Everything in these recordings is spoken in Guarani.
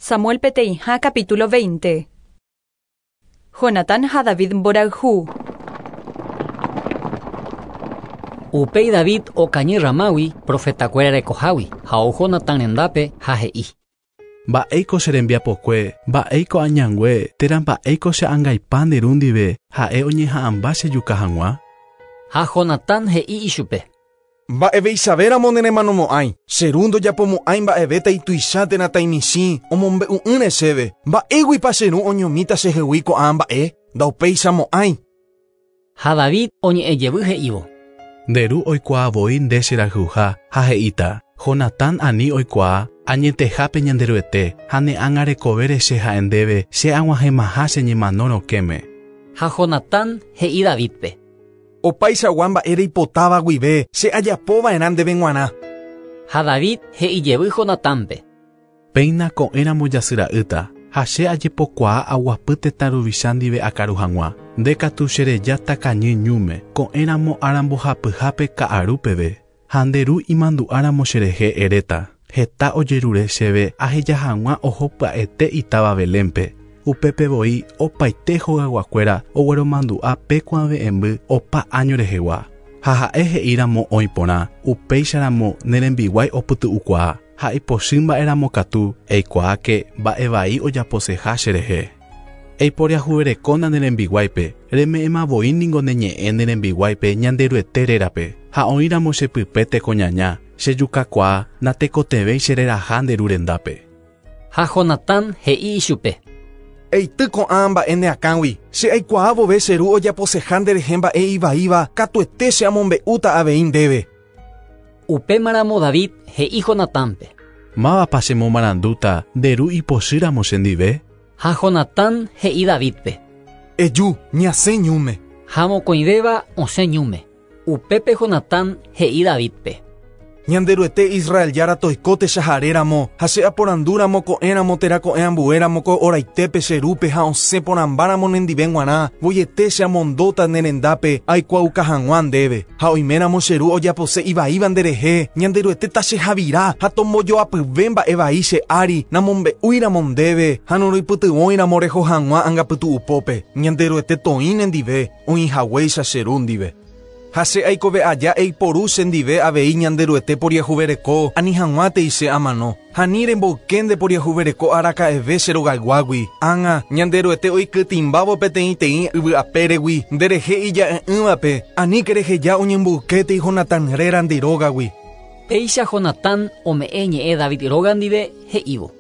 Samuel peteĩha capítulo 20 Jonatán ha David mborayhu. Upéi David okañy Ramágui profetakuéra rekohágui, ha ou Jonatán rendápe ha he'i, Mba'éiko che rembiapokue, mba'éiko añangue, térã mba'éiko che angaipa nde ru ndive, ha'e oñeha'ãmba chejuka hag̃ua? Ha Jonatán he'i ichupe. Mba'eveichavéramo neremanomo'ãi, che ru ndojapomo'ãi mba'evéta ituicha térã taimichĩ omombe'u'ỹre chéve, mba'éguipa che ru oñomíta chehegui ko'ã mba'e? Ndaupéichamo'ãi. Ha David oñe'ẽ jevy he'ívo. Nde ru oikuaa voi nde che rayhuha, ha he'íta, Jonatán ani oikuaa añeteha pe Ñanderuete, ha ne ág̃a rekovére che ha'e ndéve che aguahẽmaha che ñemano rokẽme. Ha Jonatán he'i Davídpe. Opaichagua mba'e reipotáva guive che ajapo va'erã ndéve g̃uarã. Ha David he'i jevy Jonatánpe. Péina ko'ẽramo jasy ra'ýta, ha che ajepokuaa aguapy tetã ruvicha ndive akaru hag̃ua. Nde katu che reja takañy ñúme, ko'ẽramo ára mbohapyhápe ka'aru peve, ha nde ru imandu'áramo che rehe eréta, heta ojerure chéve aheja hag̃ua oho pya'ete itáva Belénpe. Upépe voi opaite hogaguakuéra ogueromandu'a pe kuãve'ẽmby opa áño rehegua. Ha ha'e he'i ramo oĩ porã, upéicharamo ne rembiguái opytu'ukuaa. Ha ipochy mba'éramo katu eikuaáke mba'e vai ojaposeha cherehe. Eiporiahuverekóna ne rembiguáipe, reme'ẽma voi ningo ne ñe'ẽ ne rembiguáipe Ñanderuete rérape, ha oĩramo che pype tekoñaña, che jukakuaa natekotevẽi che reraha nde ru rendápe. Ha Jonatán he'i ichupe. Eity ko'ã mba'e ne akãgui, che aikuaa vove che ru ojaposeha nderehe mba'e ivaíva, katuete che amombe'úta avei ndéve. Upémaramo David he'i Jonatánpe. Mávapa chemomarandúta nde ru ipochýramo chendive? Ha Jonatán he'i Davídpe. Eju, ñasẽ ñúme. Ha mokõivéva osẽ ñúme. Upépe Jonatán he'i Davídpe. Ñanderuete Israel Jára toiko techahare ramo, ha che aporandu ramo ko'ẽ ramo térã ko'ẽ ambue ramo ko oraitépe che rúpe ha osẽ porãmba ramo nendive g̃uarã, voiete che amondóta ne rendápe aikuaauka hag̃ua ndéve. Ha oiméramo che Ru ojapose ivaíva nde rehe, Ñanderuete tachehavira ha tombojoapyve mba'e vai che ári, namombe'úiramo ndéve ha noroipytyvõiramo reho hag̃ua angapytu'u pópe, Ñanderuete toĩ nendive, oĩ haguéicha che Ru ndive. Ha che aikove aja eiporu che ndive avei Ñanderuete poriahuvereko ani hag̃uátei che amano. Ha ni remboyke nde poriahuvereko araka'eve che rogayguágui, ág̃a Ñanderuete oikytĩmbávo peteĩteĩ yvy apéregui nde rehe ija'e'ỹvape, aníke reheja oñemboykétei Jonatán réra nde rógagui. Péicha Jonatán ome'ẽ ñe'ẽ David róga ndive, he'ívo.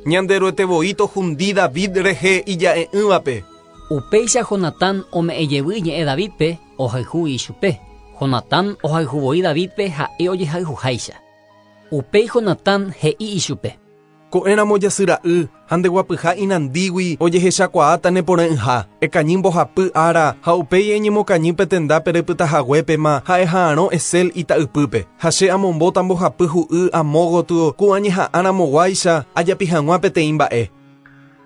Ñanderuete voi tohundi David rehe ija'e'ỹvape. Upéicha Jonatán ome'ẽ jevy ñe'ẽ Davídpe, ohayhu ichupe. Jonatán ohayhu voi Davídpe ha'e ojehayhuháicha. Upéi Jonatán he'i ichupe. Ko'ẽramo jasy ra'y ha nde guapyha inandígui ojehechakuaáta ne porã'ỹha. Ekañy mbohapy ára ha upéi eñemokañy pe tenda pere pytahaguépema ha eha'arõ Esel ita'ypýpe. Ha che amombóta mbohapy hu'y amo gotyo ku añeha'ãramoguáicha ajapi hag̃ua peteĩ mba'e.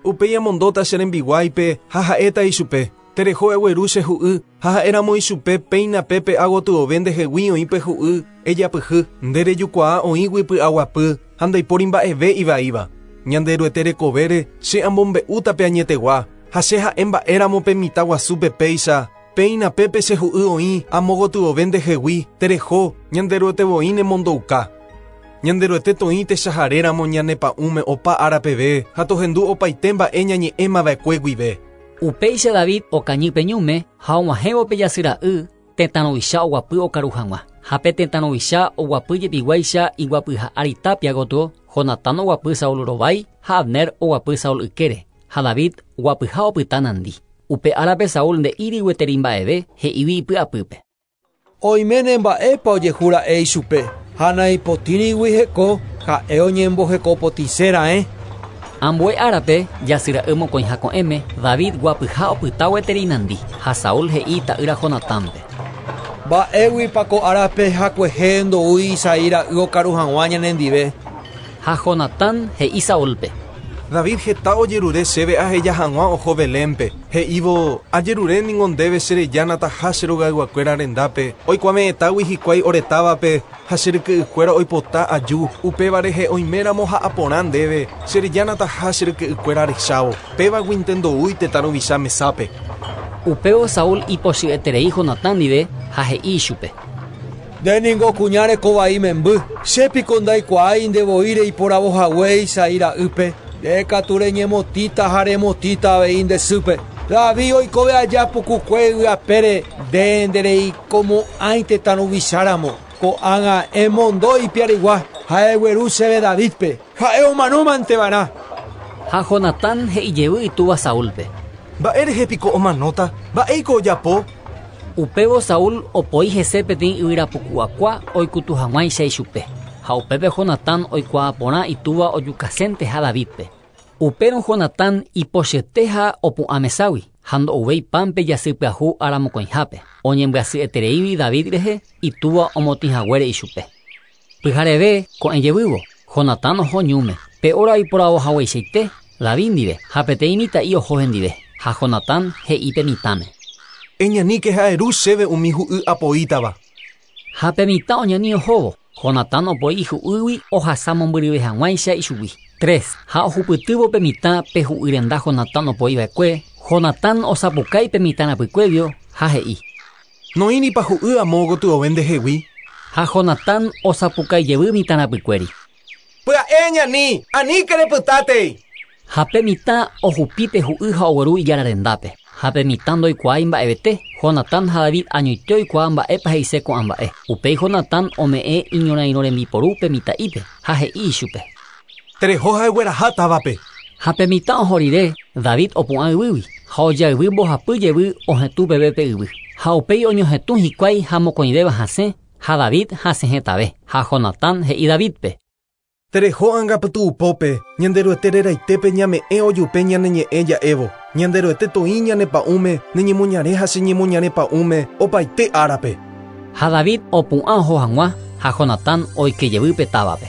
Upéi amondóta che rembiguáipe ha ha'éta ichupe, Tereho egueru che hu'y, ha ha'éramo ichupe péina pe pe'a gotyove ndehegui oĩ pe hu'y, ejapyhy, nde rejukuaa oĩgui py'aguapy ha ndaipóri mba'eve ivaíva. Ñande Ruete rekovére che amombe'úta pe añetegua, ha che ha'e mba'éramo pe mitã guasúpe péicha, Péina pépe che hu'y oĩ amo gotyove ndehegui, tereho, Ñanderuete voi nemondouka. Ñanderuete toĩ techahare ramo ñane pa'ũme opa ára peve ha tohendu opaite mba'e ñañe'ẽma va'ekue guive. Upéicha David okañy pe ñume ha og̃uahẽvo pe jasy ra'y tetã ruvicha oguapy okaru hag̃ua. Ha pe tetã ruvicha oguapy jepiguáicha iguapyha ári tápia gotyo, Jonatán oguapy Saul rovái ha Abner oguapy Saul ykére. ha David guapyha opyta nandi. Upe árape Saúl nde'íri gueteri mba'eve, he'ígui ipy'apýpe. Oiméne mba'épa ojehu ra'e ichupe, ha naipotĩrigui heko ha'e oñemboheko potĩse raẽ. Ambue árape, jasy ra'y mokõiha ko'ẽme, David guapyha opyta gueteri nandi, ha Saúl he'i ita'ýra Jonatánpe. Mba'éguipa ko árape hakuehe ndoúi Isaí ra'y okaru hag̃ua ñanendive? Ha Jonatán he'i Saúlpe. David heta ojerure chéve aheja hag̃ua oho Belénpe, he'ívo, 'Ajerure ningo ndéve che reja nataha che rogayguakuéra rendápe, oikuave'ẽtágui hikuái ore távape, ha che ryke'ykuéra oipota aju, upéva rehe oiméramo ja'a porã ndéve, che reja nataha che ryke'ykuéra rechávo. Pévaguinte ndoúi tetã ruvicha mesápe'. Upévo Saúl ipochy'eterei Jonatán ndive ha he'i ichupe. Nde ningo kuña reko vai memby. Che piko ndaikuaái nde voi reiporavo hague Isaí ra'ýpe. Nde katu reñemotĩta ha remotĩta avei nde sýpe. David oikove aja pukukue yvy apére, nde ndereikomo'ãi tetã ruvicha ramo. Ko'ág̃a emondo ipiarigua ha egueru chéve Davídpe. Ha'e omanómante va'erã. Ha Jonatán he'i jevy itúva Saúlpe. Mba'e rehe piko omanóta? Mba'éiko ojapo? Upévo Saúl opoi hese peteĩ yvyra puku'akua oikutu hag̃uáicha ichupe, ha upépe Jonatán oikuaa porã itúva ojukasénteha Davídpe. Upérõ Jonatán ipochyete ha opu'ã meságui, ha ndo'uvéi pan pe jasy pyahu ára mokõihápe, oñembyasyetereígui David rehe itúva omotĩ haguére ichupe. Pyhareve ko'ẽ jevývo, Jonatán oho ñúme. Pe óra oiporavo hagueichaite David ndive, ha peteĩ mitã'i oho hendive. Ha Jonatán he'i pe mitãme. Eñaníke ha eru chéve umi hu'y apoítava. Ha pe mitã oñani ohóvo, Jonatán opoi ihu'ýgui ohasa mombyryve hag̃uáicha ichugui. Tres. Ha ohupytývo pe mitã pe hu'y renda Jonatán opoi va'ekue, Jonatán osapukái pe mitã rapykuévio ha he'i. Noĩripa hu'y amo gotyove ndehegui? Ha Jonatán osapukái jevy mitã rapykuéri. Pya'e ñani, aníke repytátei! Ha pe mitã ohupi pe hu'y ha ogueru ijára rendápe. Ha pe mitã ndoikuaái mba'evete, Jonatán ha David añoite oikuaa mba'épa he'ise ko'ã mba'e. Upéi Jonatán ome'ẽ iñorairõ rembiporu pe mitã'ípe, ha he'i ichupe. Tereho ha egueraha távape. Ha pe mitã oho rire, David opu'ã yvýgui, ha oja yvy mbohapy jevy ohetũ peve pe yvy. Ha upéi oñohetũ hikuái ha mokõivéva hasẽ, ha David hasẽ hetave. Ha Jonatán he'i Davídpe. Tereho anga pytu'upópe, Ñanderuete reraitépe ñame'ẽ ojupe ñane ñe'ẽ ja'évo, Ñanderuete toĩ ñane pa'ũme ne ñemoñare ha che ñemoñare pa'ũme opaite árape. Ha David opu'ã oho hag̃ua ha Jonatán oike jevy pe távape.